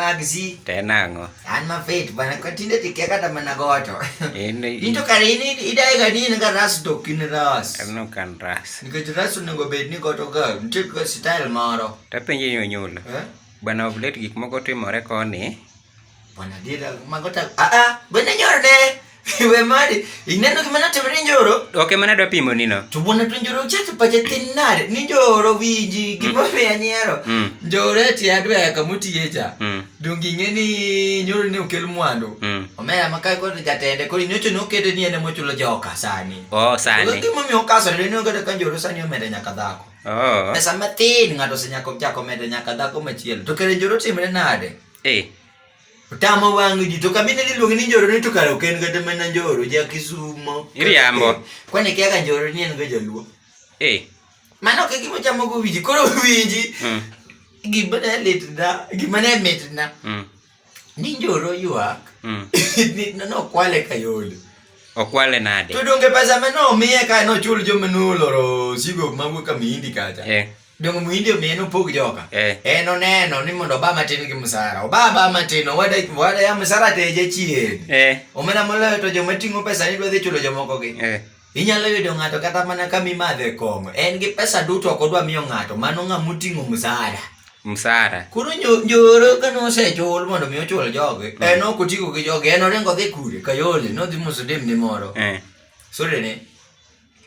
magzi tena ang'o an mafit bana kwa tinde tikia kata mana goto into kare in idae ga ni nga ras to kin ras no kan ras nikech ras onego bed ni goto ga nitie ka style moro tapenje nyonyula eh? bana oblet gik moko timore koni Wanadira magota a ah, a ah, bwana nyoro de iwe mari ineno gima natimore nyoro ok ema nadwa pimo nino to bwana to nyoro chati pache tin nade ni nyoro winji mm. gima mm. miya nyero mm. nyoro eti adwa ya kamutiye cha mm. donge ing'e ni nyoro ne okel mwandu mm. omera makae kod jatende koro inyocho ne okete ni en ema ochulo joka sani oh, sani gima omiyo okasore ni ogedo ka nyoro sani omeda nyaka dhako oh. pesa matin ng'ato osenyako chako medo nyaka dhako machielo to kare njoro timre nade Eh. Tamo wang' ji to kamine niluongi ni njoro ni to kare ok en kata mana njoro ja Kisumo. Iriambo. Eh, Kwani kia ka njoro ni en ga jaluo. Eh. Mano ke gimo chamo go wiji koro wiji. Mm. Gima ne litna, gima ne mitna. Mm. Ni njoro yuak. Mm. Ni no kwale kayole. Okwale nade? To donge pesa mano omiye ka nochul jomnulo sigo mawuok amindi kacha. Eh. Dongo muhindi omiye nopog joka. Eh. En oneno ni mondo Obama tin gi msara. Obama matin owada wada ya msara te je chien. Eh. Omena moloyo to joma ting'o pesa ni dwadhi chulo jomoko gi. Eh. Inyalo yudo ng'ato kata mana ka mimadhe kong'o. En gi pesa duto ok odwa miyo ng'ato. Mano ng'a moting'o msara. Msara. Koro njoro ka nosechul mondo mi ochul jogi. Mm. En ok otigo gi jogi. En oringo dhi kure. Kayole. Nodhi musudim ni moro. Eh. Sore ne.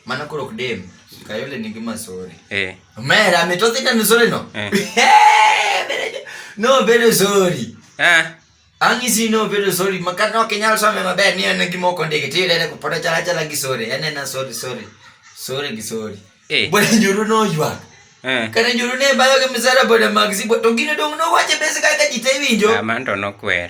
Mana koro ok dem. Kayole nigi masore. Eh. Omera ametoa tena misore no. Eh. No bedo sorry. Eh. Ang' isi no bedo sorry. Makata ok inyal some maber ni en gima ok ondiki. Ti dere kupoda chala chala gi sorry. En en sorry sorry. Sorry gi sorry. Eh. Bwana nyoro no ywa. Eh. Kana nyoro ne bayo ke misara boda magzi. To gino dong no wache bese kaka jitewinjo. Amando no kwer.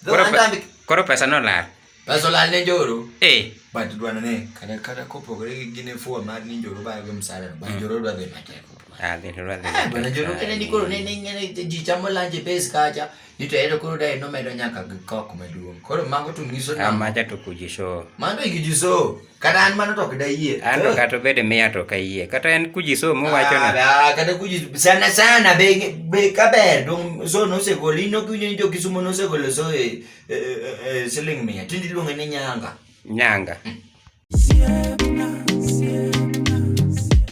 Koro pe- Antambi koro pesa nolal pesa olal ne njoro eh but dwana ne kata kata kopogore gi gine fuwa mar ni njoro bayo gi msara but njoro dwa dhi matek ah gini lwa dhi Ah, bwana njoro kene ni koro ne ne ngene ji chamo lanje pes kacha ni to ero koro dai no medo nyaka gi kok maduong koro mago to nyiso na amacha to kujisho mano igijiso kata an mano to ok dayie an to kata obed miya to ok ayie kata en kuji so muwacho na Ah, kata kuji sana sana be be kaber dong so nosegol in ok winjo ni jo kisumo nosegolo so e, e, e, e, siling mia tinde iluonge ni nyanga nyanga Siempre.